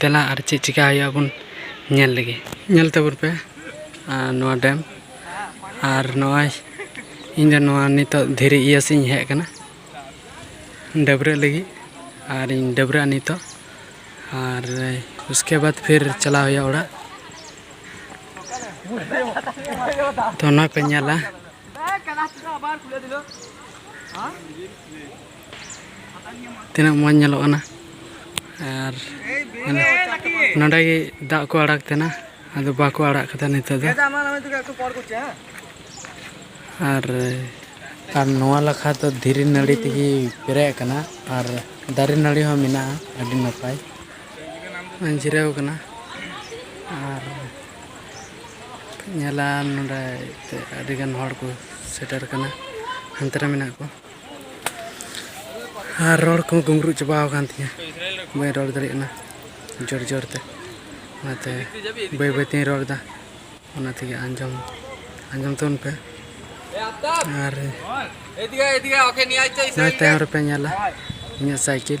ᱫᱮᱞᱟ ᱟᱨ ᱪᱮᱫ ᱪᱤᱠᱟ ᱦᱩᱭᱩᱜᱼᱟ ᱵᱚᱱ ᱧᱮᱞ ᱞᱮᱜᱮ ᱧᱮᱞ ᱛᱟᱵᱚᱱ ᱯᱮ ᱟᱨ ᱱᱚᱣᱟ ᱰᱮᱢ ᱟᱨ ᱱᱚᱜᱼᱚᱸᱭ ᱤᱧ ᱫᱚ ᱱᱚᱣᱟ ᱱᱤᱛᱚᱜ ᱫᱷᱤᱨᱤ ᱤᱭᱟᱹ ᱥᱮᱫ ᱤᱧ ᱦᱮᱡ ᱠᱟᱱᱟ ᱰᱟᱹᱵᱽᱨᱟᱹᱜ ᱞᱟᱹᱜᱤᱫ ᱟᱨ ᱤᱧ ᱰᱟᱹᱵᱽᱨᱟᱹᱜᱼᱟ ᱱᱤᱛᱚᱜ ᱟᱨ ᱩᱥᱠᱮ ᱵᱟᱫ ᱯᱷᱤᱨ ᱪᱟᱞᱟᱣ ᱦᱩᱭᱩᱜᱼᱟ ᱚᱲᱟᱜ ᱛᱚ ᱚᱱᱟ ᱯᱮ ᱧᱮᱞᱟ ᱛᱤᱱᱟᱹᱜ ᱢᱚᱡᱽ ᱧᱮᱞᱚᱜ ᱠᱟᱱᱟ ᱟᱨ ᱱᱚᱰᱮ ᱜᱮ ᱫᱟᱜ ᱠᱚ ᱟᱲᱟᱜ ᱛᱟᱦᱮᱱᱟ ᱟᱫᱚ ᱵᱟᱠᱚ ᱟᱲᱟᱜ ᱠᱟᱫᱟ ᱱᱤᱛᱚᱜ ᱫᱚ ᱟᱨ ᱟᱨ ᱱᱚᱣᱟ ᱞᱟᱠᱷᱟ ᱫᱚ ᱫᱷᱤᱨᱤ ᱱᱟᱹᱲᱤ ᱛᱮᱜᱮ ᱯᱮᱨᱮᱡ ᱟᱠᱟᱱᱟ ᱟᱨ ᱫᱟᱨᱮ ᱱᱟᱹᱲᱤ ᱦᱚᱸ ᱢᱮᱱᱟᱜᱼᱟ ᱟᱹᱰᱤ ᱱᱟᱯᱟᱭ ᱡᱤᱨᱟᱹᱣ ᱠᱟᱱᱟ ᱟᱨ ᱧᱮᱞᱟ ᱱᱚᱰᱮ ᱟᱹᱰᱤᱜᱟᱱ ᱦᱚᱲ ᱠᱚ ᱥᱮᱴᱮᱨ ᱠᱟᱱᱟ ᱦᱟᱱᱛᱮ ᱨᱮ ᱢᱮᱱᱟᱜ ᱠᱚᱣᱟ ᱟᱨ ᱨᱚᱲ ᱠᱚ ᱜᱩᱢᱨᱩ ᱪᱟᱵᱟ ᱟᱠᱟᱱ ᱛᱤᱧᱟᱹ ᱵᱟᱹᱧ ᱨᱚᱲ ᱫᱟᱲᱮᱭᱟᱜ ᱠᱟᱱᱟ ᱡᱳᱨ ᱡᱳᱨ ᱛᱮ ᱚᱱᱟᱛᱮ ᱵᱟᱹᱭ ᱵᱟᱹᱭ ᱛᱤᱧ ᱨᱚᱲ ᱮᱫᱟ ᱚᱱᱟ ᱛᱮᱜᱮ ᱟᱸᱡᱚᱢ ᱟᱸᱡᱚᱢ ᱛᱟᱵᱚᱱ ᱯᱮ ᱟᱨ ᱱᱚᱜᱼᱚᱭ ᱛᱟᱭᱚᱢ ᱨᱮᱯᱮ ᱧᱮᱞᱟ ᱤᱧᱟᱹᱜ ᱥᱟᱭᱠᱮᱞ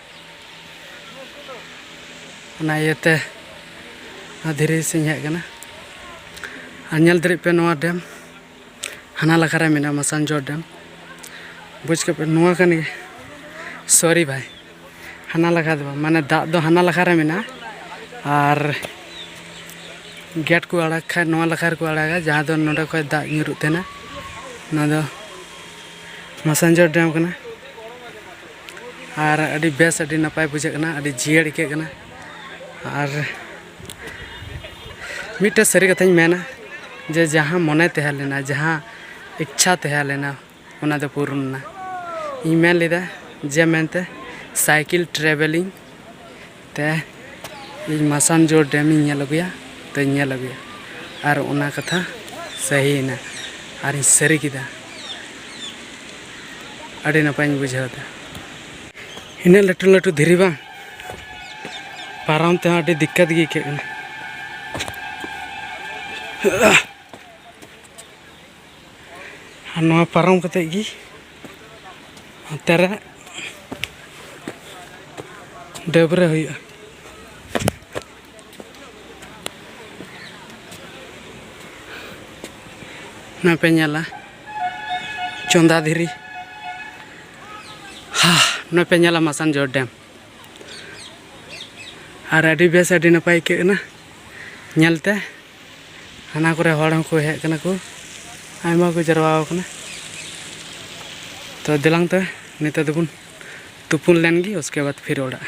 ᱚᱱᱟ ᱤᱭᱟᱹᱛᱮ ᱱᱚᱣᱟ ᱫᱷᱤᱨᱤ ᱥᱮᱧ ᱦᱮᱡ ᱟᱠᱟᱱᱟ ᱟᱨ ᱧᱮᱞ ᱫᱟᱲᱮᱜ ᱯᱮ ᱱᱚᱣᱟ ᱰᱮᱢ ᱦᱟᱱᱟ ᱞᱟᱠᱷᱟ ᱨᱮ ᱢᱮᱱᱟᱜᱼᱟ ᱢᱟᱥᱟᱱᱡᱚᱨ ᱰᱮᱢ ᱵᱩᱡᱽ ᱠᱮᱫ ᱯᱮ ᱱᱚᱣᱟ ᱠᱟᱱ ᱜᱮ ᱥᱚᱨᱤ ᱵᱷᱟᱭ ᱦᱟᱱᱟ ᱞᱟᱠᱷᱟ ᱫᱚ ᱵᱟᱝ ᱢᱟᱱᱮ ᱫᱟᱜ ᱫᱚ ᱦᱟᱱᱟ ᱞᱟᱠᱷᱟ ᱨᱮ ᱢᱮᱱᱟᱜᱼᱟ ᱟᱨ ᱜᱮᱴ ᱠᱚ ᱟᱲᱟᱜ ᱠᱷᱟᱡ ᱱᱚᱣᱟ ᱞᱟᱠᱷᱟ ᱨᱮᱠᱚ ᱟᱲᱟᱜᱟ ᱡᱟᱦᱟᱸ ᱫᱚ ᱱᱚᱰᱮ ᱠᱷᱚᱡ ᱫᱟᱜ ᱧᱩᱨᱩᱜ ᱛᱟᱦᱮᱱᱟ ᱱᱚᱣᱟ ᱫᱚ ᱢᱟᱥᱟᱱᱡᱚᱨ ᱰᱮᱢ ᱠᱟᱱᱟ ᱟᱨ ᱟᱹᱰᱤ ᱵᱮᱥ ᱟᱹᱰᱤ ᱱᱟᱯᱟᱭ ᱵᱩᱡᱷᱟᱹᱜ ᱠᱟᱱᱟ ᱟᱹᱰᱤ ᱡᱤᱭᱟᱹᱲ ᱟᱹᱭᱠᱟᱹᱜ ᱠᱟᱱᱟ ᱟᱨ ᱢᱤᱫᱴᱮᱱ ᱥᱟᱹᱨᱤ ᱠᱟᱛᱷᱟᱧ ᱢᱮᱱᱟ ᱡᱮ ᱡᱟᱦᱟᱸ ᱢᱚᱱᱮ ᱛᱟᱦᱮᱸ ᱞᱮᱱᱟ ᱡᱟᱦᱟᱸ ᱤᱪᱪᱷᱟ ᱛᱟᱦᱮᱸ ᱞᱮᱱᱟ ᱚᱱᱟ ᱫᱚ ᱯᱩᱨᱩᱱ ᱮᱱᱟ ᱤᱧ ᱢᱮᱱ ᱞᱮᱫᱟ ᱡᱮ ᱢᱮᱱᱛᱮ ᱥᱟᱭᱠᱮᱞ ᱴᱨᱟᱵᱷᱮᱞᱤᱝ ᱛᱮ ᱤᱧ ᱢᱟᱥᱟᱱᱡᱳᱲ ᱰᱮᱢ ᱤᱧ ᱧᱮᱞ ᱟᱹᱜᱩᱭᱟ ᱛᱚᱧ ᱧᱮᱞ ᱟᱹᱜᱩᱭᱟ ᱟᱨ ᱚᱱᱟ ᱠᱟᱛᱷᱟ ᱥᱟᱹᱦᱤᱭᱮᱱᱟ ᱟᱨᱤᱧ ᱥᱟᱹᱨᱤ ᱠᱮᱫᱟ ᱟᱹᱰᱤ ᱱᱟᱯᱟᱭᱤᱧ ᱵᱩᱡᱷᱟᱹᱣ ᱮᱫᱟ ᱤᱱᱟᱹᱜ ᱞᱟᱹᱴᱩ ᱞᱟᱹᱴᱩ ᱫᱷᱤᱨᱤ ᱵᱟᱝ ᱯᱟᱨᱚᱢ ᱛᱮᱦᱚᱸ ᱟᱹᱰᱤ ᱫᱤᱠᱠᱟᱛ ᱜᱮ ᱟᱹᱭᱠᱟᱹᱜ ᱠᱟᱱᱟ ᱟᱨ ᱱᱚᱣᱟ ᱯᱟᱨᱚᱢ ᱠᱟᱛᱮᱫ ᱜᱮ ᱦᱟᱱᱛᱮ ᱨᱮ ᱰᱟᱹᱵᱽᱨᱟᱹ ᱦᱩᱭᱩᱜᱼᱟ ᱱᱚᱣᱟ ᱯᱮ ᱧᱮᱞᱟ ᱪᱚᱸᱫᱟ ᱫᱷᱤᱨᱤ ᱦᱟ ᱱᱚᱣᱟ ᱯᱮ ᱧᱮᱞᱟ ᱢᱟᱥᱟᱱᱡᱳᱲ ᱰᱮᱢ ᱟᱨ ᱟᱹᱰᱤ ᱵᱮᱥ ᱟᱹᱰᱤ ᱱᱟᱯᱟᱭ ᱟᱹᱭᱠᱟᱹᱜ ᱠᱟᱱᱟ ᱧᱮᱞᱛᱮ ᱦᱟᱱᱟ ᱠᱚᱨᱮ ᱦᱚᱲ ᱦᱚᱸᱠᱚ ᱦᱮᱡ ᱠᱟᱱᱟ ᱠᱚ ᱟᱭᱢᱟ ᱠᱚ ᱡᱟᱨᱣᱟ ᱟᱠᱟᱱᱟ ᱛᱚ ᱫᱮᱞᱟᱝ ᱛᱮ ᱱᱤᱛᱚᱜ ᱫᱚᱵᱚᱱ ᱛᱩᱯᱩᱱ ᱞᱮᱱ ᱜᱮ ᱩᱥᱠᱮ ᱵᱟᱫ ᱯᱷᱤᱨ ᱚᱲᱟᱜ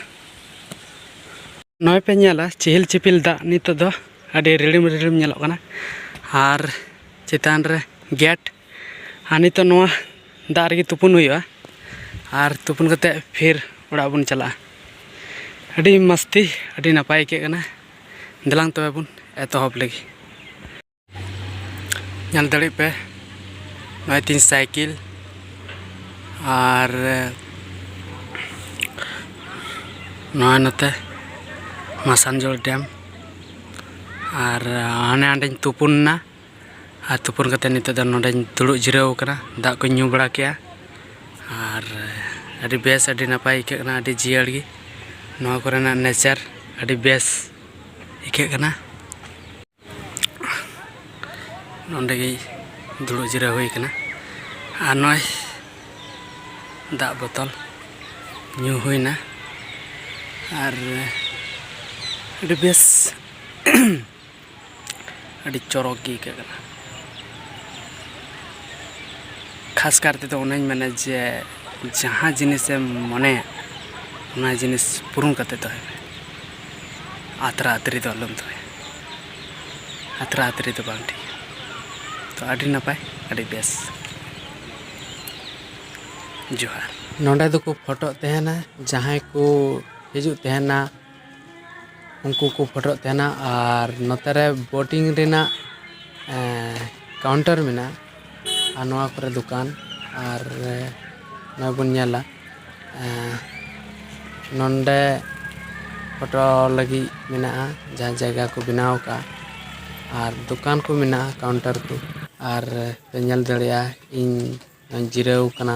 ᱱᱚᱜᱼᱚᱭ ᱯᱮ ᱧᱮᱞᱟ ᱪᱤᱦᱤᱞ ᱪᱤᱯᱤᱞ ᱫᱟᱜ ᱱᱤᱛᱚᱜ ᱫᱚ ᱟᱹᱰᱤ ᱨᱤᱲᱤᱢ ᱨᱤᱲᱤᱢ ᱧᱮᱞᱚᱜ ᱠᱟᱱᱟ ᱟᱨ ᱪᱮᱛᱟᱱ ᱨᱮ ᱜᱮᱴ ᱟᱨ ᱱᱤᱛᱚᱜ ᱱᱚᱣᱟ ᱫᱟᱜ ᱨᱮᱜᱮ ᱛᱩᱯᱩᱱ ᱦᱩᱭᱩᱜᱼᱟ ᱟᱨ ᱛᱩᱯᱩᱱ ᱠᱟᱛᱮᱫ ᱯᱷᱤᱨ ᱚᱲᱟᱜ ᱵᱚᱱ ᱪᱟᱞᱟᱜᱼᱟ ᱟᱹᱰᱤ ᱢᱚᱥᱛᱤ ᱟᱹᱰᱤ ᱱᱟᱯᱟᱭ ᱟᱹᱭᱠᱟᱹᱜ ᱠᱟᱱᱟ ᱫᱮᱞᱟᱝ ᱛᱚᱵᱮ ᱵᱚᱱ ᱮᱛᱚᱦᱚᱵ ᱞᱟᱹᱜᱤᱫ ᱧᱮᱞ ᱫᱟᱲᱮᱜ ᱯᱮ ᱱᱚᱜᱼᱚᱭ ᱛᱤᱧ ᱥᱟᱭᱠᱮᱞ ᱟᱨ ᱱᱚᱜᱼᱚᱭ ᱱᱚᱛᱮ ᱢᱟᱥᱟᱱᱡᱳᱲ ᱰᱮᱢ ᱟᱨ ᱦᱟᱱᱮ ᱦᱟᱸᱰᱮᱧ ᱛᱩᱯᱩᱱ ᱮᱱᱟ ᱟᱨ ᱛᱩᱯᱩᱱ ᱠᱟᱛᱮ ᱱᱤᱛᱚᱜ ᱫᱚ ᱱᱚᱰᱮᱧ ᱫᱩᱲᱩᱵ ᱡᱤᱨᱟᱹᱣ ᱟᱠᱟᱱᱟ ᱫᱟᱜ ᱠᱚᱧ ᱧᱩ ᱵᱟᱲᱟ ᱠᱮᱜᱼᱟ ᱟᱨ ᱟᱹᱰᱤ ᱵᱮᱥ ᱟᱹᱰᱤ ᱱᱟᱯᱟᱭ ᱟᱹᱭᱠᱟᱹᱜ ᱠᱟᱱᱟ ᱟᱹᱰᱤ ᱡᱤᱭᱟᱹᱲ ᱜᱮ ᱱᱚᱣᱟ ᱠᱚᱨᱮᱱᱟᱜ ᱱᱮᱪᱟᱨ ᱟᱹᱰᱤ ᱵᱮᱥ ᱟᱹᱭᱠᱟᱹᱜ ᱠᱟᱱᱟ ᱱᱚᱰᱮ ᱜᱮ ᱫᱩᱲᱩᱵ ᱡᱤᱨᱟᱹᱣ ᱦᱩᱭ ᱠᱟᱱᱟ ᱟᱨ ᱱᱚᱜᱼᱚᱭ ᱫᱟᱜ ᱵᱚᱛᱚᱞ ᱧᱩ ᱦᱩᱭᱱᱟ ᱟᱨ ᱟᱹᱰᱤ ᱵᱮᱥ ᱟᱹᱰᱤ ᱪᱚᱨᱚᱠ ᱜᱮ ᱟᱹᱭᱠᱟᱹᱜ ᱠᱟᱱᱟ ᱠᱷᱟᱥ ᱠᱟᱨ ᱛᱮᱫᱚ ᱚᱱᱟᱧ ᱢᱮᱱᱟ ᱡᱮ ᱡᱟᱦᱟᱸ ᱡᱤᱱᱤᱥᱮᱢ ᱢᱚᱱᱮᱭᱟ ᱚᱱᱟ ᱡᱤᱱᱤᱥ ᱯᱩᱨᱩᱱ ᱠᱟᱛᱮ ᱫᱚᱦᱚᱭ ᱢᱮ ᱟᱛᱨᱟ ᱟᱛᱨᱤ ᱫᱚ ᱟᱞᱚᱢ ᱫᱚᱦᱚᱭᱟ ᱟᱛᱨᱟ ᱟᱛᱨᱤ ᱫᱚ ᱵᱟᱝ ᱴᱷᱤᱠᱟ ᱛᱚ ᱟᱹᱰᱤ ᱱᱟᱯᱟᱭ ᱟᱹᱰᱤ ᱵᱮᱥ ᱡᱚᱦᱟᱨ ᱱᱚᱰᱮ ᱫᱚᱠᱚ ᱯᱷᱳᱴᱳᱜ ᱛᱟᱦᱮᱱᱟ ᱡᱟᱦᱟᱸᱭ ᱠᱚ ᱦᱤᱡᱩᱜ ᱛᱟᱦᱮᱱᱟ ᱩᱱᱠᱩ ᱠᱚ ᱯᱷᱳᱴᱳᱜ ᱛᱟᱦᱮᱱᱟ ᱟᱨ ᱱᱚᱛᱮ ᱨᱮ ᱵᱳᱴᱤᱝ ᱨᱮᱱᱟᱜ ᱠᱟᱣᱩᱱᱴᱟᱨ ᱢᱮᱱᱟᱜᱼᱟ ᱟᱨ ᱱᱚᱣᱟ ᱠᱚᱨᱮ ᱫᱚᱠᱟᱱ ᱟᱨ ᱱᱚᱣᱟ ᱵᱚᱱ ᱧᱮᱞᱟ ᱱᱚᱰᱮ ᱯᱷᱳᱴᱳ ᱞᱟᱹᱜᱤᱫ ᱢᱮᱱᱟᱜᱼᱟ ᱡᱟᱦᱟᱸ ᱡᱟᱭᱜᱟ ᱠᱚ ᱵᱮᱱᱟᱣ ᱠᱟᱜᱼᱟ ᱟᱨ ᱫᱚᱠᱟᱱ ᱠᱚ ᱢᱮᱱᱟᱜᱼᱟ ᱠᱟᱣᱩᱱᱴᱟᱨ ᱠᱚ ᱟᱨ ᱯᱮ ᱧᱮᱞ ᱫᱟᱲᱮᱭᱟᱜᱼᱟ ᱤᱧ ᱡᱤᱨᱟᱹᱣ ᱠᱟᱱᱟ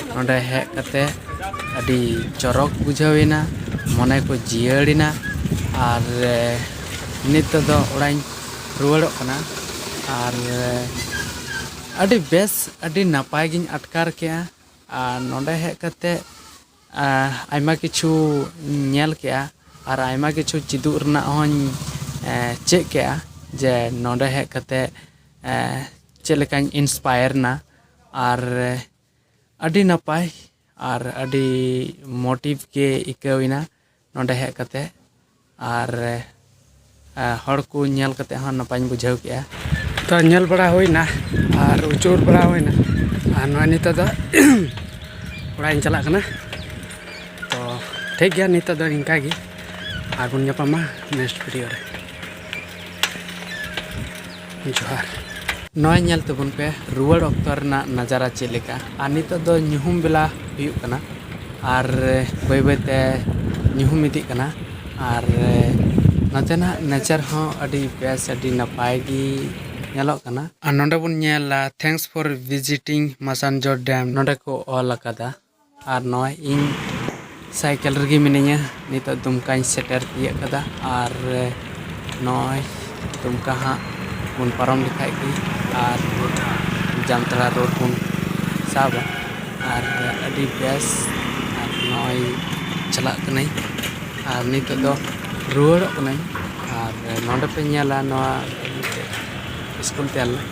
ᱱᱚᱸᱰᱮ ᱦᱮᱡ ᱠᱟᱛᱮ ᱟᱹᱰᱤ ᱪᱚᱨᱚᱠ ᱵᱩᱡᱷᱟᱹᱣ ᱮᱱᱟ ᱢᱚᱱᱮ ᱠᱚ ᱡᱤᱭᱟᱹᱲ ᱮᱱᱟ ᱟᱨ ᱱᱤᱛᱚᱜ ᱫᱚ ᱚᱲᱟᱜ ᱤᱧ ᱨᱩᱣᱟᱹᱲᱚᱜ ᱠᱟᱱᱟ ᱟᱨ ᱟᱹᱰᱤ ᱵᱮᱥ ᱟᱹᱰᱤ ᱱᱟᱯᱟᱭ ᱜᱤᱧ ᱟᱴᱠᱟᱨ ᱠᱮᱜᱼᱟ ᱟᱨ ᱱᱚᱸᱰᱮ ᱦᱮᱡ ᱠᱟᱛᱮ ᱟᱭᱢᱟ ᱠᱤᱪᱷᱩ ᱧᱮᱞ ᱠᱮᱜᱼᱟ ᱟᱨ ᱟᱭᱢᱟ ᱠᱤᱪᱷᱩ ᱪᱮᱫᱚᱜ ᱨᱮᱱᱟᱜ ᱦᱚᱸᱧ ᱪᱮᱫ ᱠᱮᱜᱼᱟ ᱡᱮ ᱱᱚᱸᱰᱮ ᱦᱮᱡ ᱠᱟᱛᱮ ᱪᱮᱫ ᱞᱮᱠᱟᱧ ᱤᱱᱥᱯᱟᱭᱟᱨ ᱮᱱᱟ ᱟᱨ ᱟᱹᱰᱤ ᱱᱟᱯᱟᱭ ᱟᱨ ᱟᱹᱰᱤ ᱢᱚᱴᱤᱵᱷ ᱜᱮ ᱟᱹᱭᱠᱟᱹᱣ ᱮᱱᱟ ᱱᱚᱰᱮ ᱦᱮᱡ ᱠᱟᱛᱮ ᱟᱨ ᱦᱚᱲ ᱠᱚ ᱧᱮᱞ ᱠᱟᱛᱮ ᱦᱚᱸ ᱱᱟᱯᱟᱭᱤᱧ ᱵᱩᱡᱷᱟᱹᱣ ᱠᱮᱜᱼᱟ ᱛᱚ ᱧᱮᱞ ᱵᱟᱲᱟ ᱦᱩᱭᱱᱟ ᱟᱨ ᱩᱪᱟᱹᱲ ᱵᱟᱲᱟ ᱦᱩᱭᱱᱟ ᱟᱨ ᱱᱚᱜᱼᱚᱭ ᱱᱤᱛᱚᱜ ᱫᱚ ᱚᱲᱟᱜ ᱤᱧ ᱪᱟᱞᱟᱜ ᱠᱟᱱᱟ ᱛᱚ ᱴᱷᱤᱠ ᱜᱮᱭᱟ ᱱᱤᱛᱚᱜ ᱫᱚ ᱤᱱᱠᱟ ᱜᱮ ᱟᱨᱵᱚᱱ ᱧᱟᱯᱟᱢᱟ ᱱᱮᱠᱥᱴ ᱵᱷᱤᱰᱤᱭᱳ ᱨᱮ ᱡᱚᱦᱟᱨ ᱱᱚᱜᱼᱚᱭ ᱧᱮᱞ ᱛᱟᱵᱚᱱ ᱯᱮ ᱨᱩᱣᱟᱹᱲ ᱚᱠᱛᱚ ᱨᱮᱱᱟᱜ ᱱᱟᱡᱟᱨᱟ ᱪᱮᱫ ᱞᱮᱠᱟ ᱟᱨ ᱱᱤᱛᱚᱜ ᱫᱚ ᱧᱩᱦᱩᱢ ᱵᱮᱞᱟ ᱦᱩᱭᱩᱜ ᱠᱟᱱᱟ ᱟᱨ ᱵᱟᱹᱭ ᱵᱟᱹᱭ ᱛᱮ ᱧᱩᱦᱩᱢ ᱤᱫᱤᱜ ᱠᱟᱱᱟ ᱟᱨ ᱱᱚᱛᱮᱱᱟᱜ ᱱᱮᱪᱟᱨ ᱦᱚᱸ ᱟᱹᱰᱤ ᱵᱮᱥ ᱟᱹᱰᱤ ᱱᱟᱯᱟᱭ ᱜᱮ ᱧᱮᱞᱚᱜ ᱠᱟᱱᱟ ᱟᱨ ᱱᱚᱰᱮ ᱵᱚᱱ ᱧᱮᱞᱟ thanks for visiting Massanjore dam ᱱᱚᱰᱮ ᱠᱚ ᱚᱞ ᱟᱠᱟᱫᱟ ᱟᱨ ᱱᱚᱜᱼᱚᱭ ᱤᱧ ᱥᱟᱭᱠᱮᱞ ᱨᱮᱜᱮ ᱢᱤᱱᱟᱹᱧᱟ ᱱᱤᱛᱚᱜ ᱫᱩᱢᱠᱟᱧ ᱥᱮᱴᱮᱨ ᱛᱤᱭᱟᱹᱜ ᱠᱟᱫᱟ ᱟᱨ ᱱᱚᱜᱼᱚᱭ ᱫᱩᱢᱠᱟ ᱦᱟᱸᱜ ᱵᱚᱱ ᱯᱟᱨᱚᱢ ᱞᱮᱠᱷᱟᱡ ᱜᱮ ᱟᱨ ᱡᱟᱢᱛᱟᱲᱟ ᱨᱳᱰ ᱵᱚᱱ ᱥᱟᱵᱟ ᱟᱨ ᱟᱹᱰᱤ ᱵᱮᱥ ᱟᱨ ᱱᱚᱜᱼᱚᱭ ᱪᱟᱞᱟᱜ ᱠᱟᱹᱱᱟᱹᱧ ᱟᱨ ᱱᱤᱛᱚᱜ ᱫᱚ ᱨᱩᱣᱟᱹᱲᱚᱜ ᱠᱟᱹᱱᱟᱹᱧ ᱟᱨ ᱱᱚᱰᱮ ᱯᱮ ᱧᱮᱞᱟ ᱱᱚᱣᱟ ᱢᱤᱫᱴᱮᱡ ᱥᱠᱩᱞ ᱛᱟᱦᱮᱸ ᱞᱮᱱᱟ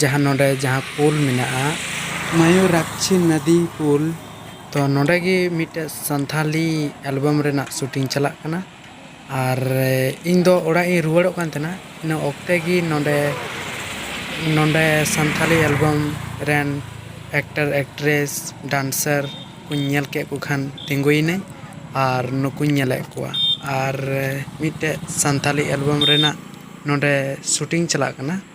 ᱡᱟᱦᱟᱸ ᱱᱚᱸᱰᱮ ᱡᱟᱦᱟᱸ ᱯᱩᱞ ᱢᱮᱱᱟᱜᱼᱟ ᱢᱚᱭᱩᱨᱟᱠᱪᱷᱤ ᱱᱚᱫᱤ ᱯᱩᱞ ᱛᱚ ᱱᱚᱸᱰᱮ ᱜᱮ ᱢᱤᱫᱴᱮᱡ ᱥᱟᱱᱛᱷᱟᱞᱤ ᱮᱞᱵᱟᱢ ᱨᱮᱱᱟᱜ ᱥᱩᱴᱤᱝ ᱪᱟᱞᱟᱜ ᱠᱟᱱᱟ ᱟᱨ ᱤᱧ ᱫᱚ ᱚᱲᱟᱜ ᱤᱧ ᱨᱩᱣᱟᱹᱲᱚᱜ ᱠᱟᱱ ᱛᱟᱦᱮᱱᱟ ᱤᱱᱟᱹ ᱚᱠᱛᱮ ᱜᱮ ᱱᱚᱸᱰᱮ ᱱᱚᱸᱰᱮ ᱥᱟᱱᱛᱷᱟᱞᱤ ᱮᱞᱵᱟᱢ ᱨᱮᱱ ᱮᱠᱴᱟᱨ ᱮᱠᱴᱨᱮᱥ ᱰᱟᱱᱥᱟᱨ ᱠᱚᱧ ᱧᱮᱞ ᱠᱮᱫ ᱠᱚ ᱠᱷᱟᱱ ᱛᱤᱸᱜᱩᱭᱮᱱᱟᱹᱧ ᱟᱨ ᱱᱩᱠᱩᱧ ᱧᱮᱞᱮᱫ ᱠᱚᱣᱟ ᱟᱨ ᱢᱤᱫᱴᱮᱡ ᱥᱟᱱᱛᱷᱟᱞᱤ ᱮᱞᱵᱟᱢ ᱨᱮᱱᱟᱜ ᱱᱚᱸᱰᱮ ᱥᱩᱴᱤᱝ ᱪᱟᱞᱟᱜ ᱠᱟᱱᱟ